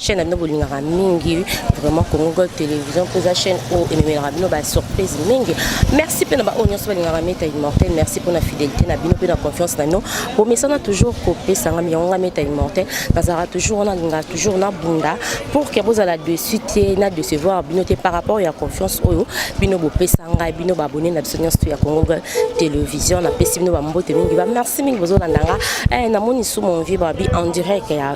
chaîne na bino bolingaka mingi vraiment congo gold télévision mpo eza chaîne oyo ememelaka bino basurprise mingi merci mpe na baoyo nyonso balingaka meta immortel merci mpo na fidélité na bino mpe na confiance na bino bomesana toujours kopesa ngami yango nga meta immortel nazalaka toujours wana alingaka toujours na bunda pour ke bozala dessus te na décevoir bino te par rapport ya confiance oyo bino bopesa ngai bino babone na biso nyonso ya congo gold télévision napesi bino bambote mingi bamerci mingi bozolanda nga eh, namoni su mon vie babi en direct ya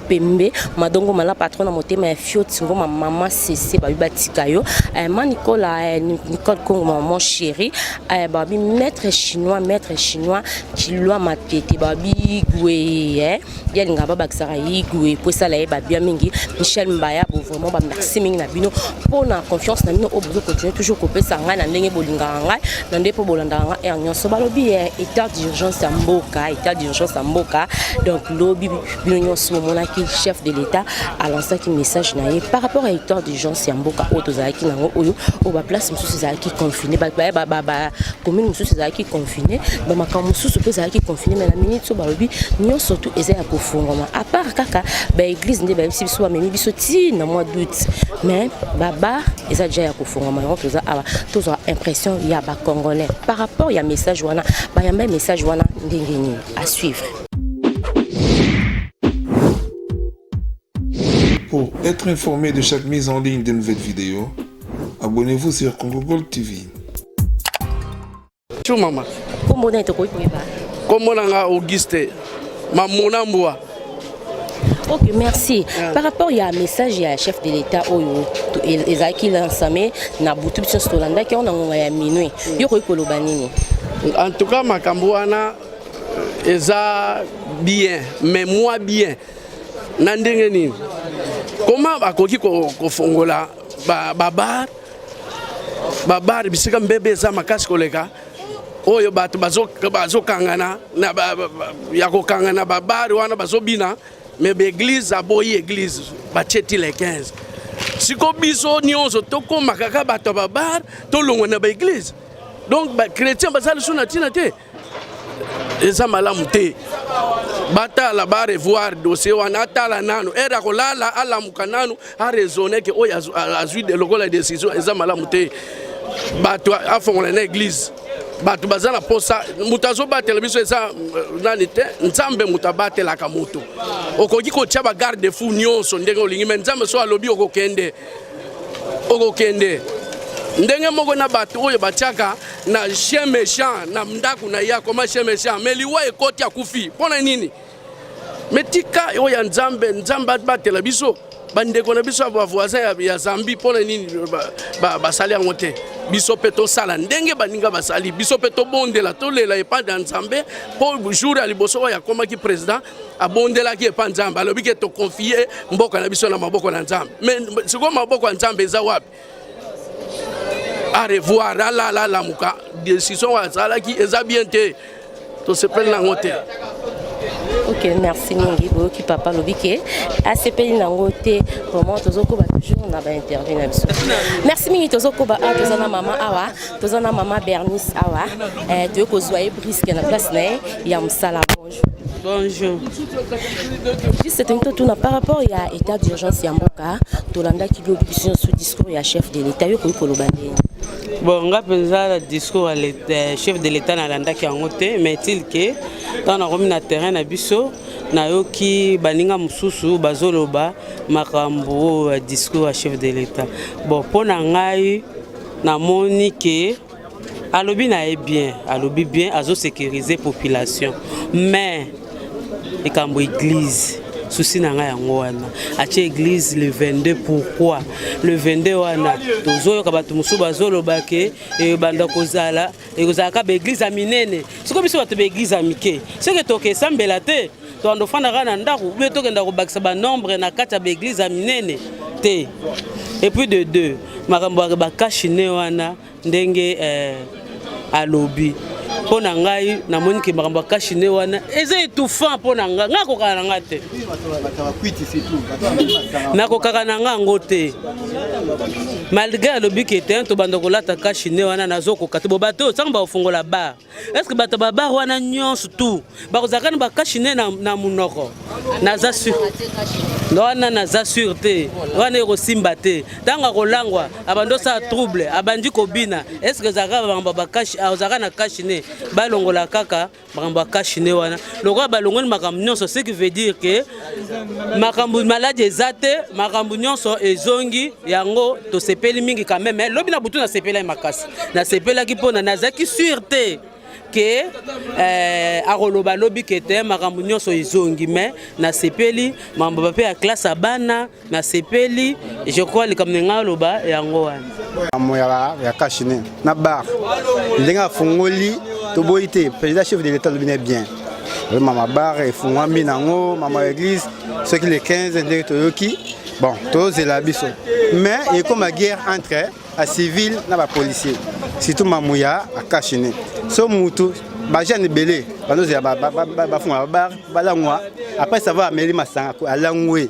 pembe madongo mala patron na motema ya fioti ngoma mama sese babi batika yo eh, ma nicola eh, nicole congo maman chéri eh, babi maître chinois maître chinois kilwa matete babi igwe eh, ye alinga babakisaka ye igwe mpo esala ye babia mingi michel mbaya bo vraiment bamerci mingi na bino mpo na confiance na bino oyo bozo continue toujours kopesa ngai na ndenge bolingaka ngai na nde mpo bolandaka ngai heure nyonso balobi eh, état d'urgence ya mboka état d'urgence ya mboka donc lobi bino nyonso bomonaki chef de l'état alansaki message na ye par rapport à état d'urgence ya mboka oyo tozalaki nango oyo oyo baplace mosusu ezalaki confine bacommune mosusu ezalaki confine bamakambo mosusu mpe ezalaki confine mai na minute oyo balobi nyonso tu eza ya kofungwama à part kaka baeglise nde bayebisi biso bamemi biso ti na mois d'août mais babar eza deja ya kofungwama yango toza awa tozwa impression ya bacongolais par rapport ya message wana bayamba message wana ndenge nini à suivre Pour être informé de chaque mise en ligne de nouvelles vidéos, abonnez-vous sur Congo Gold TV. Bonjour maman. Comment on est au Comment on a Auguste Mamona Mboua. Ok, merci. Yeah. Par rapport à un message à chef de l'État, Oyo, Ezaki Lansame, na butu biso tolanda ki ona ngonga ya minuit. Mm. Yo koyi koloba nini? En tout cas makambo wana eza bien mais moi bien na ndenge nini koma bakoki kofongola babar babar bisika mbebe eza makasi koleka oyo bato bazokangana ya kokangana babare wana bazobina me baeglize aboyi eglize batie ti le 15 siko biso nyonso tokóma kaka bato ya babare tolongwa na baeglize donc bachrétien baza lisusu na ntina te eza malamu te batala barevoir dossier wana atala nanu ere akolala alamuka nanu araisonne ke oyo azwi lokola décision eza malamu te bato afongola na église bato baza na mposa moto azobatela biso eza euh, nani te nzambe moto abatelaka moto okoki kotya bagarde fou nyonso ndenge olingi me nzambe so alobi okokende okokende ndenge moko na bato oyo batiaka na chien méchant na ndako na ye akoma chien méchant mais liwa ekoti akufi mpo na nini mais tika oyo ya nzambe nzambe abatela biso bandeko na biso ya bavoisin ya zambi mpo na nini basali yango te biso mpe tosala ndenge baninga basali biso mpe tobondela tolela epai ya nzambe mpo jour ya liboso oyo akomaki président abondelaki epa nzambe alobi ke tokonfie mboka na biso na maboko na nzambe me sikoyo maboko ya nzambe eza wapi arevoir alala alamuka decision azalaki eza bien te tosepeli nango te ok merci mingi boyoki papa alobi ke asepeli nango te vraiment tozokoba toujours na bainterview na biso merci mingi tozokoba awa toza na mama awa toza na mama bernice awa eh, toyei kozwa ye briske na place na ye ya mosala Bonjour. Juste tento tuna par rapport ya état d'urgence ya mboka tolandaki lobi biso nyonso discours ya chef de l'état yo koki koloba ndenge bon nga mpenza na discours ya chef de l'état nalandaki yango te mais til ke ntango nakomi na terrain na biso nayoki baninga mosusu bazoloba makambo oyo ya discours ya chef de l'état bon mpo na ngai namoni ke alobi na ye bien alobi bien azosécurise population mais likambo église susi na ngai yango wana atie église le 22 pourquoi le 22 wana tozoyoka bato mosusu bazoloba ke ebanda eh, kozala ekozalaka baeglise ya minene soki biso bato baeglise ya mike soki tokesambela te tokando ofanda kaka na ndako ube tokenda kobakisa banombre na kati ya baeglize ya minene te epuis de deux makambo ya bakashine wana ndenge eh, alobi mpo na ngai namoni ke makambo ya kashine wana eza etouffant mpo na ngai ngai akokaka na ngai te nakokaka na ngai yango te malgré alobi ke te tobanda kolata kashine wana nazokoka te bobato osango bakofungola bar Est-ce que bato babar wana nyonso tout bakozalaka na bakashi ne na, na monoko naza sur wana naza sur te wana ekosimba te ntango akolangwa abandi osala trouble abandi kobina est ce que ezalaka makambo ya bakashi ozalaka na kashi ne balongola kaka makambo ya kashi ne wana lokola balongoli makambo nyonso ce qui veut dire que makambo maladi eza te makambo nyonso ezongi yango tosepeli mingi quand même lobi na butu nasepelaki makasi nasepelaki mpona nazalaki sur te ke eh, akoloba lobi ke te makambo nyonso ezongi me nasepeli mambo bape ya klase ya bana nasepeli je crois likambo na ngai aloba yango wana amo ya kashine na bar ndenge afungoli toboyi te président chef de l'état alobi na bien oyo mama bar efungwami nango mama église soki le 15 ndenge toyoki bon tozela biso mais ekoma guerre entre a civil na bapolicier surtout mamuya akashine so mutu bajeune ebele banozela bafunga babar balangwa après savoir ameli masanga alangwe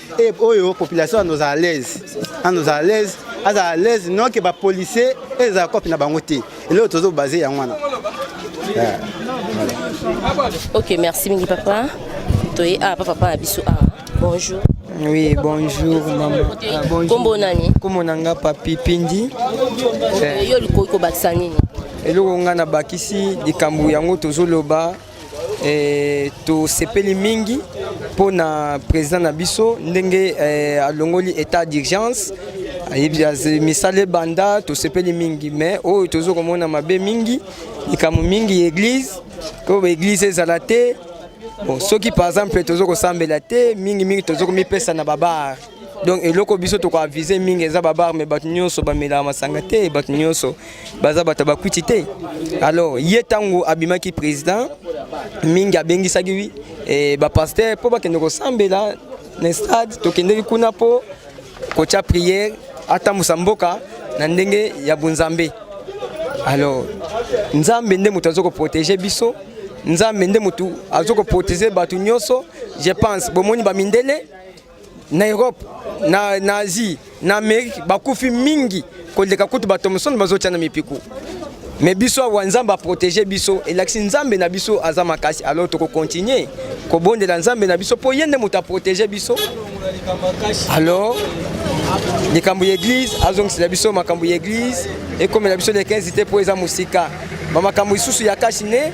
e oyo population anozala alaise anozala alaise azala alaise noke bapolicier ezala kope na bango te eloko tozobase yango wana eh, ok merci mingi papa toye awa ah, pa papa na biso awa ah. bonjour Oui, bonjour maman. Ah, bonjour. Kombo nani? Kombo nanga papi Pindi. Okay, eh. yo likoki kobakisa nini? eloko ngai nabakisi likambo yango tozoloba Eh, tosepeli mingi mpo na président na biso ndenge eh, alongoli état d'urgence misala ebanda tosepeli mingi mais oyo tozo komona mabe mingi likambo mingi église mpo baeglise ezala te bon, soki par exemple tozo kosambela te mingi mingi tozo komipesa na babar donc eloko biso tokoavise mingi eza babar me bato nyonso bamelaka masanga te bato nyonso baza bato bakwiti te alors ye ntango abimaki président mingi abengisaki eh, bapaster mpo bakende kosambela na stade tokendeki kuna mpo kotya priere atambusa mboka na ndenge ya bonzambe alors nzambe nde moto aza koprotege biso nzambe nde moto aza koprotege bato nyonso je pense bomoni bamindele na Europe na, na Asie na Amerique bakufi mingi koleka kutu bato mosusu bazotia na mipiku me biso awa nzambe aprotege biso elakisi nzambe na biso aza makasi alors tokokontinue kobondela nzambe na biso mpo ye nde moto aprotege biso alors likambo ya eglize azongisela biso makambo ya eglize ekomela biso le 15 te mpo eza mosika bamakambo lisusu ya kasi ne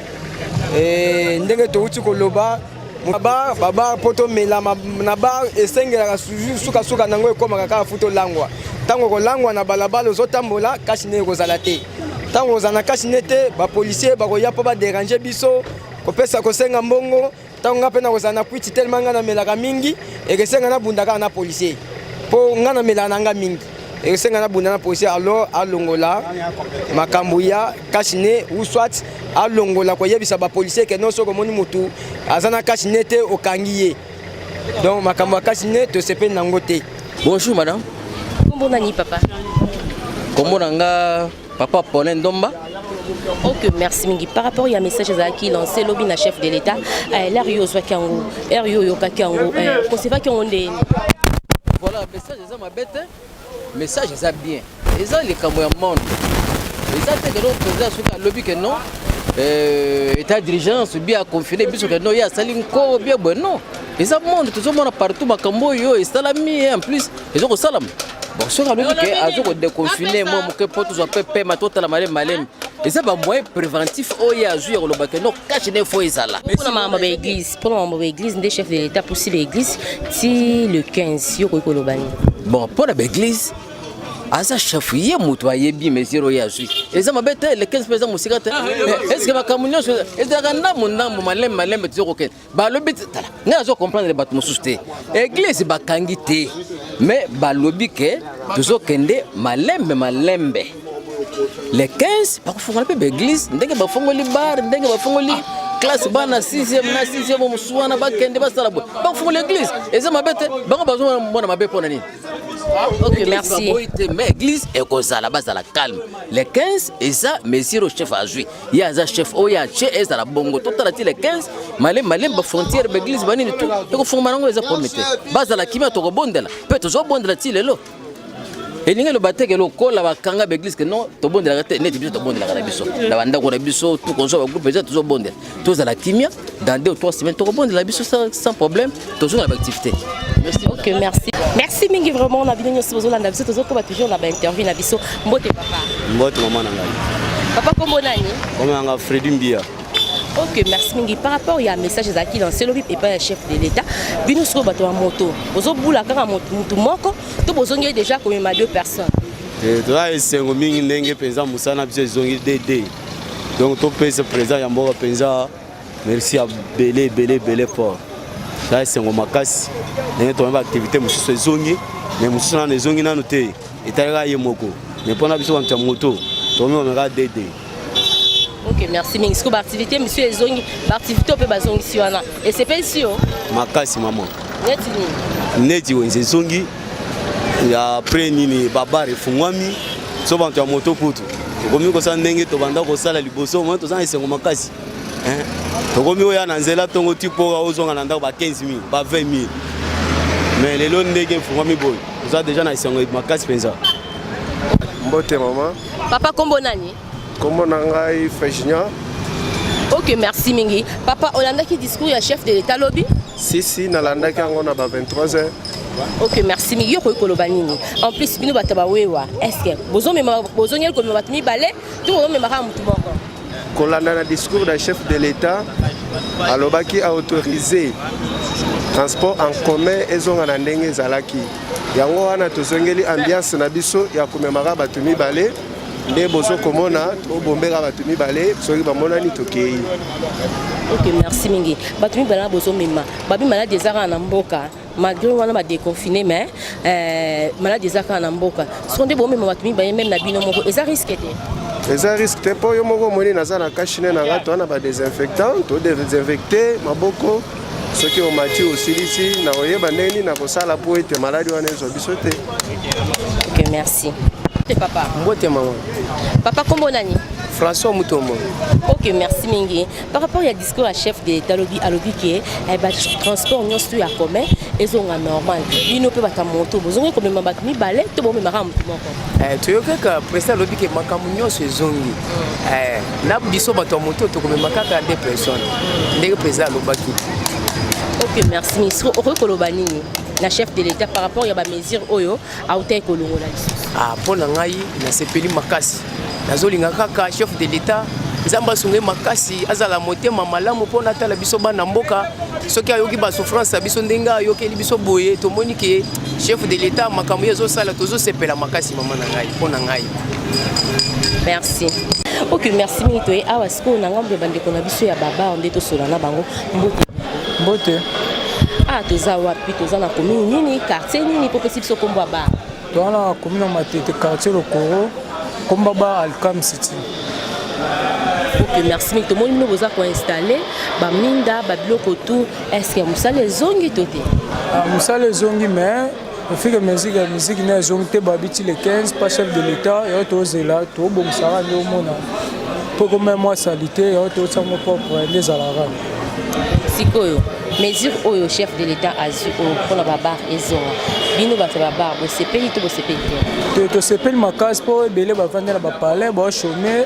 eh, ndenge touti koloba na bar babar mpo tomelama na bar esengelaka sukasuka nango ekomaka kaka fu tolangwa ntango kolangwa na balabala ozotambola kasi nde ekozala te ntango ozala na kasi nde te bapolisier bakoya mpo baderange biso kopesa kosenga mbongo ntango ngai mpe nakozala na kwiti telema ngai namelaka mingi ekesenga nabunda kaka na policier mpo ngai namelaka na ngai mingi ekosenga na bunda na polisi alors alongola makambo ya cache ne ou soit alongola koyebisa bapolisier ke non soki omoni motu aza na cache ne te okangi ye donc makambo ya cache ne tosepeli nango te bonjour madame kombo nani papa kombo na nga Papa Paulin Ndomba ok merci mingi par rapport ya message ezalaki lancé lobi na chef de l'état eh, lare yo ozwaki yango ere yo oyokaki yango eh, kosevaki yango nde voilà message eza mabe te message eza bien eza likambo ya monde eza te keno président soki alobi ke non eh, état d'urgence bi aconfine biso ke non ye asali nko bie bwe non eza monde tozomona partout makambo oyo esalami en plus ezokosalama bon soki alobi ke azo kodeconfine mwa moke mpo tozwa mpe pema totala malemi malemi eza bamoyen préventif oyo ye azwi ya koloba ke no kashe nde fo ezala mpona makambo ba église mpona makambo ba église nde chef de l'état pusi ba église ti le 15 yo okoki koloba nini bon mpona ba église aza chef ye moto ayebi mesure oyo azwi eza mabe te le 15 mpe eza mosika te ah, estce makambo nyonso ezalaka ndambo ndambo malembe malembe tozo kokende balobi tala ngai nazo comprendre bato mosusu te eglise bakangi te me balobi ke tozokende malembe malembe le 15 bakofongola mpe baeglise ndenge bafongoli bar ndenge bafongoli classe bana 6e na 6e mosusu wana bakende basala boye bakofongola eglise eza mabe te bango bazomona mabe mpo na nini ok merci mais église ekozala bazala calme le 15 eza mesure chef azwi ye aza chef oyo ya che ezala bongo totala ti le 15 malembe malembe bafrontière baeglise banini tu ekofungama nango eza problème te bazala kimia tokobondela mpe tozobondela ti lelo elingi eloba teke lokola bakanga baeglise ke non tobondelaka te neti biso tobondelaka na biso na bandako na biso tokozwa bagroupe eza tozobondela tozala kimia dans deux ou trois semaines tokobondela biso sans problème tozonga na baactivité merci ok merci merci mingi vraiment na bino nyonso bozolanda biso tozokoba toujours na bainterview na biso mbote papa mbote mama na ngai papa kombo nani kombo na ngai fredi mbia ok merci mingi par rapport ya message ezalaki lancé lobi epai ya chef de l'état bino sikoyo bato ya moto bozobula kaka motu moko to bozongeli déjà komema deux personnes eh, toza esengo mingi ndenge mpenza mosala na biso ezongi dd donc topesa président ya mboka mpenza merci ya ebele ebele ebele fort za esengo makasi ndenge tomoni baaktivité mosusu ezongi me mosusu nano ezongi nano te etalaka ye moko me mpo na biso bantu ya moto tomimameka dede ok merci mingi sikoyo baaktivité mosusu ezongi baaktivité mpe bazongisi wana esepelisi yo makasi mama neti nini neti wenze ezongi ya après nini babare efungwami so bantu ya moto kutu tokomi kosala ndenge tobanda kosala liboso omoi toza na esengo makasi tokomi oya na nzela ntongo ti mpo ozonga na ndako ba 15 000 ba 20 000 mais lelo ndenge efungwami boye oza deja na esengo makasi mpenza mbote mama papa nkombo nani Kombo na ngai Frejignan. Ok, merci mingi. Papa, olandaki discours ya chef de l'État lobi? Si, si, nalandaki yango na ba 23 heures. ok merci mingi yo okoki koloba nini en plus bino bato bawewa estce bozongeli komema bato mibale to bozomemaka motu moko kolanda na discours ya chef de l'état alobaki aautorise transport en commun ezonga na ndenge ezalaki yango wana tozongeli ambiance na biso ya komemaka bato mibale nde bozo komona tobombeka bato mibale soki bamonani tokei ok merci mingi bato mibale na bozomema babi maladi eza kaka na mboka malgré wana badeconfine mais euh, maladi eza kaka na mboka soko nde bomema bato mibale meme na bino moko eza riske te eza riske te mpo yo moko omoni naza na kashine na nga toa na badesinfectant todesinfecte maboko soki omati osilisi na oyeba ndenge nini nakosala mpo ete maladi wana ezwa biso te ok merci mbote papa mbote mama papa kombo nani françois mutombo ok merci mingi par rapport ya discours ya chef de état alobi alobi ke eh, batransport nyonso ya commun ezonga normal bino mpe bato ya moto bozongi komema bato mibale to bomemaka moto moko Eh, toyokaka presi alobi ke makambo nyonso ezongi mm. eh, na biso bato ya moto tokomema kaka nde personne mm. ndenge presi alobaki ok merci ministre okoki koloba nini na chef de l'état par rapport ya bamesure oyo autaki kolongola lisusu ah, mpo na ngai nasepeli makasi nazolinga kaka chef de l'état nzambe asunge makasi azala motema malamu mpo natala biso bana mboka soki ayoki basouffrance ya biso ndenge ayokeli biso boye tomoni ke chef de l'etat makambo ye ezosala tozosepela makasi mama na ngai mpo na ngai merci ok merci mingi toye awa sikoyo na ngambo ya bandeko na biso ya babar nde tosola na bango mbote mbote ah toza wapi toza na commune nini quartier nini mpo pesi biso nkombo ya bar toza na commune ya matete quartier lokoro nkombo bar alcam city ok merci mingi tomoni bino boza koinstalle baminda babiloko tout Est-ce que musala ezongi to te? Ah, musala ezongi mais au fur et à mesure ya musique na ezongi te babi ti le 15 pas chef de l'État yango tozela tobongisaka nde omona mpo komema mwa salite yango totia ngo propre nde ezalaka sikoyo mesure oyo chef de l'État azwi oyo mpo na babar ezonga bino bato ya babar bosepeli to bosepeli te tosepeli makasi mpo ebele bavandi na bapalais baochome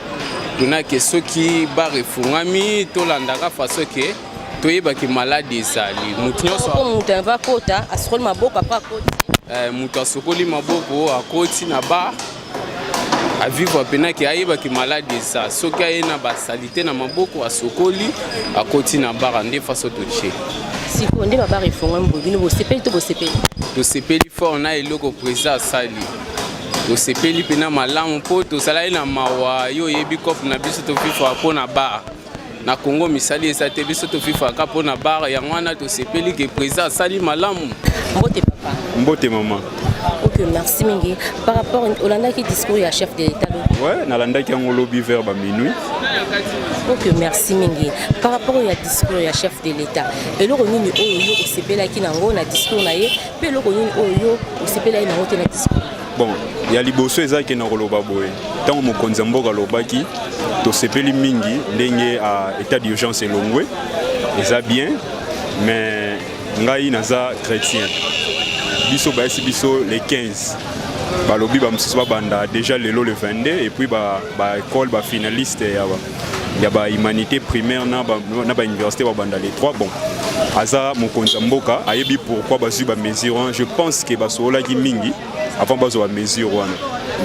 tunake soki bar efungami tolandaka faso ke toyeba ke maladi ezali moto nyonsomoto ava kota asokoli maboko apa akoti eh, moto asokoli maboko akoti na bar avivre mpena ke ayeba ke maladi eza soki aye na basalite na maboko asokoli akoti na bara nde faso totie sikoyo nde babara efongami boye bino bosepeli to bosepeli tosepeli fort na eloko presa asali tosepeli mpena malamu mpo tozalaki na mawa yo oyebi cope na biso tofifa mpo na bar na congo misali eza te biso tofifaka mpo na bar yango wana tosepeli ke président asali malamu mbote papa mbote mama ok merci mingi par rapport olandaki discours ya chef de l'état ouais nalandaki yango lobi vers ba minuit ok merci mingi par rapport ya discours ya chef de l'état eloko nini oyo yo osepelaki nango na discours na ye mpe eloko nini oyo yo osepelaki nango te na discours bon ya liboso eza ke na koloba boye ntango mokonzi ya mboka alobaki tosepeli mingi ndenge a état d'urgence elongwe eza bien mais ngai naza chrétien biso bayesi biso le 15 balobi bamosusu babanda déjà lelo le 22 epuis baekole ba bafinaliste ya ba ya ba humanité primaire na ba, na ba université ba banda les trois bon aza mokonzi ya mboka ayebi pourquoi bazwi ba mesure wana je pense que basololaki mingi avant bazwa ba mesure wana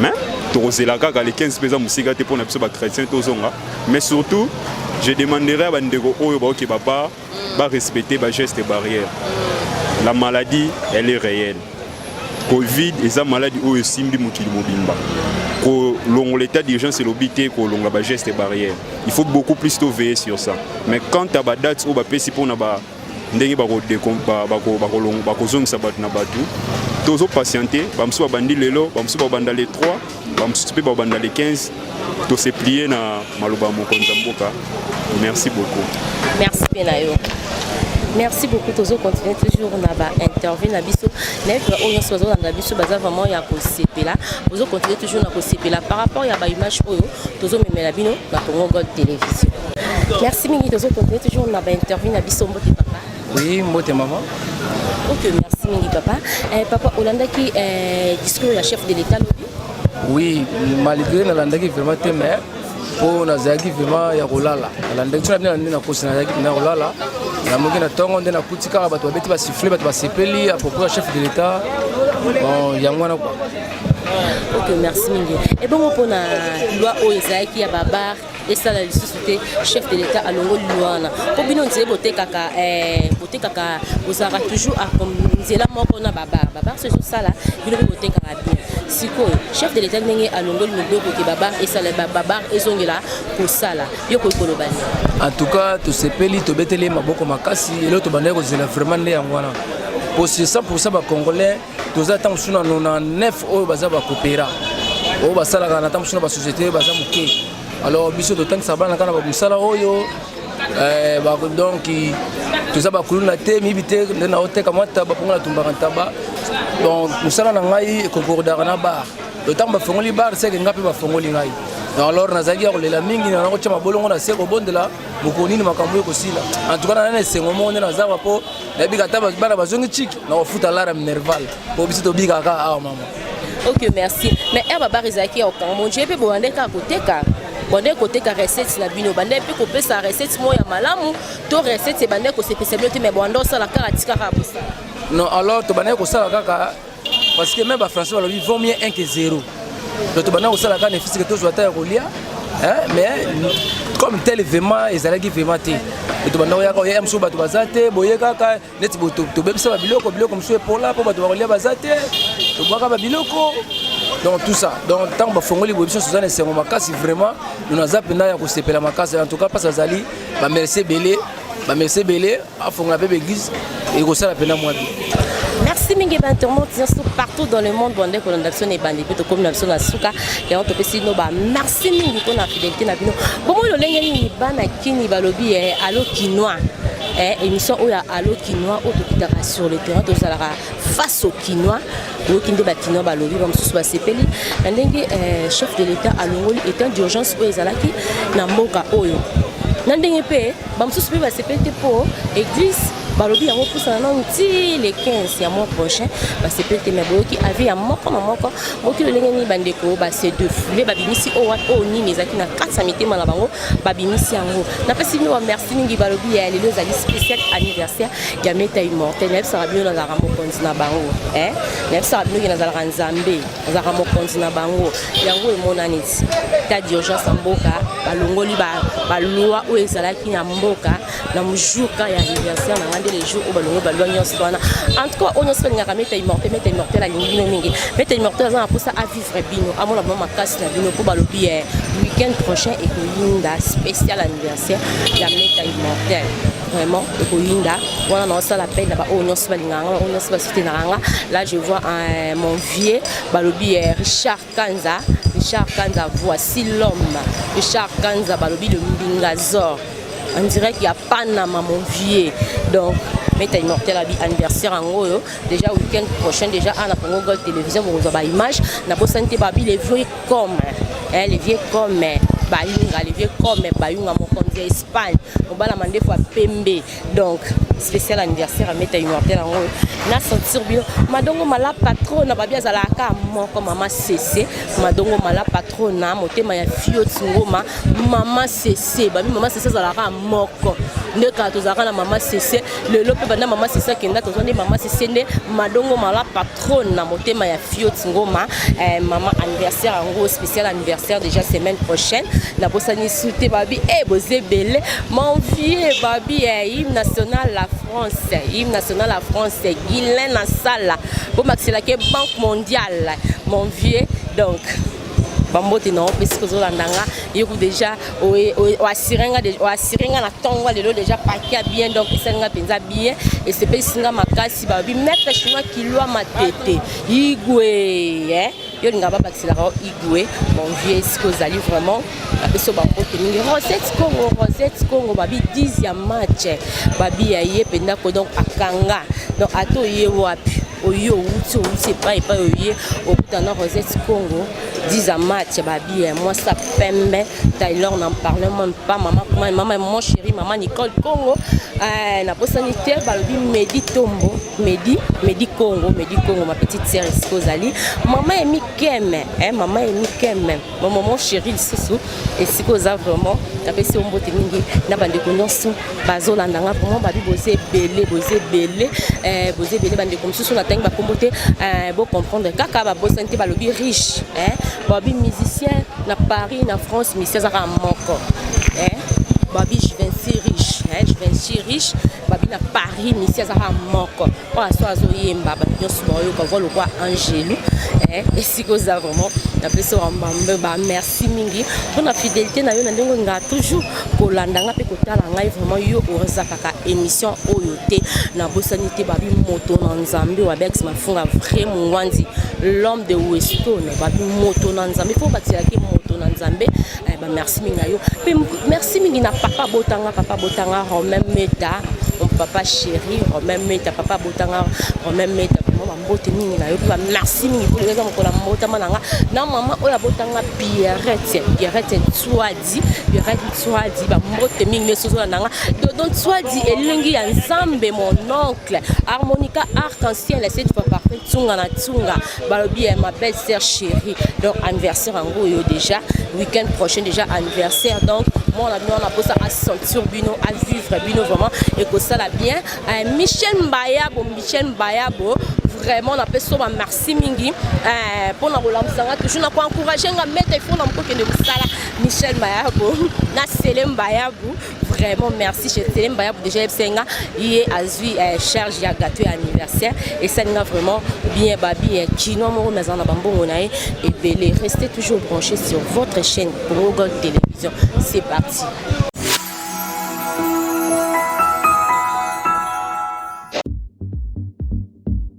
mais tokozela kaka le 15 mpe eza mosika te mpo na biso bachrétien tozonga mais surtout je demanderai ya bandeko oyo baoke baba Ba respecter ba gestes barrières. La maladie, elle est réelle. Covid eza maladie oyo esimbi mokili mobimba. Kolongo l'état d'urgence elobi te kolonga ba gestes barrières. Il faut beaucoup plus to veiller sur ça. Mais quant à ba dates oyo bapesi mpona ba ndenge bakozongisa bato na bato tozo patiente bamosusu babandi lelo bamosusu babanda le 3 bamosusu mpe babanda le 15 tose plie na maloba ya mokonzi ya mboka merci beaucoup merci mpe na yo merci beaucoup tozo continuer toujours na ba interview na biso nayebi ba oyo nyonso bazolanda biso baza vraiment ya kosepela bozo continuer toujours na kosepela par rapport ya ba image oyo tozomemela bino na congo gold télévision merci mingi tozo continuer toujours na ba interview na biso mbote papa Oui, mbote maman. Ok, merci mingi papa. Eh, papa, olandaki eh, discours ya chef de l'État lobi? Oui, malgré nalandaki vraiment te mais mpo nazalaki vraiment ya kolala nalandaki so na bino nde nakosi nazalaki mpenza kolala namoki na ntongo nde nakuti kaka bato babeti basifle bato basepeli apropos ya chef de l'État bon yango wana kua ok merci mingi ebongo mpona loi oyo ezalaki ya babar esala lisusu te chef de l'état alongoli lwa wana mpo bino nzele botekaka eh, botekaka bozalaka toujours nzela moko na babar babar so ezosala bino mpe botekaka bien sikoyo chef de l'état ndenge alongoli miboko ke babar esala babar ezongela kosala yo koki koloba nini en tout cas tosepeli tobeteli ye maboko makasi eloo tobandaki kozela vraiment nde yango wana mpo sur 100 bacongolais toza ntango mosusu na 99 oyo baza bakopera oyo basalaka na ntango mosusu na basociété baza moke alors biso totangisa bana kaka na mosala oyo eh, donc toza bakuluna te miyibi te nde na oteka mwa ntaba mpongo natumbaka ntaba donc mosala na ngai ekokordaka na bar ntango bafongoli bar seke ngai mpe bafongoli ngai alors nazalaki ya kolela mingi na nakotya mabolongo na se kobondela mokolo nini makambo oyo ekosila antuka na nani esengo moko nde nazala mpo nayebika ata bana bazongi chiki na kofuta lara minerval po biso tobikaka kaka awa mama ok merci mais air babar ezalaki ya kokanga monje mpe bobandaki kaka koteka bande koteka recette na bino bande mpe kopesa recette moko ya malamu to recette ebande kosepesa bino te mais bande osala kaka tikaka kosala non alors tobandaki kosala kaka parce que même ba français balobi vaut mieux 1 que 0 donc tobanda kosala kaka na efisike tozwa ata ya kolia mais comme tel vraiment ezalaki vraiment te tobanda koyaka oya mosusu bato baza te boye kaka neti tobebisa babiloko biloko mosusu epola mpo bato bakolia baza te tobwaka babiloko donc tout ça donc ntango bafongoli boye biso toza na esengo makasi vraiment lona aza mpenza ya kosepela makasi en tout cas mpasi azali bamercie ebele bamercie ebele afongola mpe baeglise ekosala mpena mwa bi merci mingi bainternaute nyonso partout dans le monde bandeko na biso na ebandi mpe tokomi na biso na suka yango topesi bino ba merci mingi mpo na fidelité na bino bomoi lolenge nini bana kini balobi eh, alo kinois eh, émission oyo ya alo kinois oyo tokitaka sur le terrain tozalaka face au kinois oyoki nde bakinois balobi bamosusu basepeli na ndenge eh, chef de l'état alongoli état d'urgence oyo ezalaki na mboka oyo na ndenge mpe bamosusu mpe basepeli te mpo eglise balobi yango pusana nanu ti le 15 ya mois prochain basepeli te mai boyoki avi ya moko na moko mokili ndenge nini bandeko base defoule babimisi oyo wana oyo nini ezalaki na kati ya mitema na bango babimisi yango napesi bino bamerci mingi balobi ya lelo ezali spécial anniversaire ya meta immortel nayebisaka bino nazalaka mokonzi na bango eh? nayebisaka bino ke nazalaka nzambe azalaka mokonzi na bango yango emonani ti ta d'urgence ya mboka balongoli balwa oyo ezalaki na mboka na jour ka ya anniversaire na ngai nde le jour oyo balongoli balwa nyonso wana en tout cas oyo nyonso balingaka meta immortel meta immortel alingi bino mingi meta immortel aza na mposa avivre bino amona bino makasi na bino mpo balobi eh, week-end prochain ekoyinda spécial anniversaire ya meta immortel vraiment ekoyinda wana naosala peine na baoyo nyonso balingaka nga baoyo nyonso basutenaka nga là je vois un, mon vieux balobi eh, richard kanza richard kanza voici l'homme richard kanza balobi le mbingazor on dirait qu'il y a panama mon vieux donc meta immortel abi anniversaire yango oyo déjà week-end prochain déjà ana congo gold télévision bokozwa baimage nabosani te babi le vieux comme eh, le vieux comme eh, bayunga le vieux comme eh, bayunga mokonzi ya espagne mobala mandefu ya pembe donc spécial anniversaire ameta immortel yango na sentir bino madongo mala patrona babi azalaka moko mama sese madongo mala patrona motema ya fioti ngoma mama sese babi mama sese azalaka moko nde kala tozalaka na mama sese lelo mpe banda mama sese akenda tozwa nde mama sese nde madongo mala patrona trône na motema ya fiot ngoma eh, mama anniversaire yango spécial anniversaire déjà semaine prochaine nabosani sute babi e eh, boza ebele mon vieux babi eh, hymne national la france hymne national la france guilain na sala bomakiselaki banque mondiale mon vieux donc bambote na yo mpe soki ozolanda nga yoku deja oasire nga oasire nga na ntongo lelo deja pake ya bien donc esali nga mpenza bien esepelisi nga makasi balobi maître chinois kilwa matete igwe eh? yo olinga babakiselaka yo igwe mon vieux esika ozali vraiment na biso bakoki mingi rosette congo rosette congo babi 10 ya match babi ya ye mpenza ko donc akanga donc ata oye wapi oye owuti owuti epai epai oye okuta na rosette congo 10 ya match babi ya mwasi ya pembe taylor na parle meme pas mama mama mon chéri mama nicole congo eh, nabosani te balobi medi tombo medi medi congo medi congo ma petite sere esika ozali mama emikeme eh, mama emikeme Mon maman chérie lisusu esika oza vraiment napesi yo mbote mingi na bandeko nyonso bazolanda nga vraiment babi boza ebele boza ebele eh, boza ebele bandeko mosusu natangi bakombo te eh, bocomprendre kaka babosani te balobi riche eh, babi musicien na paris na france misi azaka moko babi juvenci riche juvenci riche babi na paris misi azaka moko oyo aso azoyemba bato nyonso baoyoka voi lokwa angelu eh, esika oza vraiment napesi wambambe bamerci mingi mpona fidélité na yo na ndenge nga toujours kolanda nga mpe kotala ngai vraiment yo ozakaka émission oyo te nabosani te babi moto na nzambe wabex mafunga vrai mongwanzi l'homme de westone babi moto na nzambe mpo batisaki moto na nzambe Eh, ba merci mingi na yo mpe merci mingi na papa botanga papa botanga romain meta mon papa chéri romain meta papa botanga romain meta vraiment bambote mingi na yo mpe ba merci mingi mpo eza mokolo ya mbotama na nga na mama oyo abotanga pierrette pierrette nswadi pierrette nswadi bambote mingi nyonso ozona na nga dodo nswadi elingi ya nzambe mon oncle harmonica arc en ciel cette fois parfait tsunga na tsunga balobi ya ma belle sœur chérie donc anniversaire yango oyo déjà week-end prochain déjà anniversaire donc mwana bino wana mposa asentir bino avivre bino vraiment ekosala bien euh, michel mbayabo michel mbayabo vraiment napesi yo bamerci mingi mpo euh, na kolamusa nga toujours na koencourage nga mete ifo na mokokende mosala michel mbayabu na sele mbayabu vraiment merci chez Telemba ya déjà ebsenga ye azui eh, charge ya gâteau ya anniversaire et ça nga vraiment bien babi eh, kino moko mais na bambongo na ye ebele restez toujours branchés sur votre chaîne Congo Gold Télévision c'est parti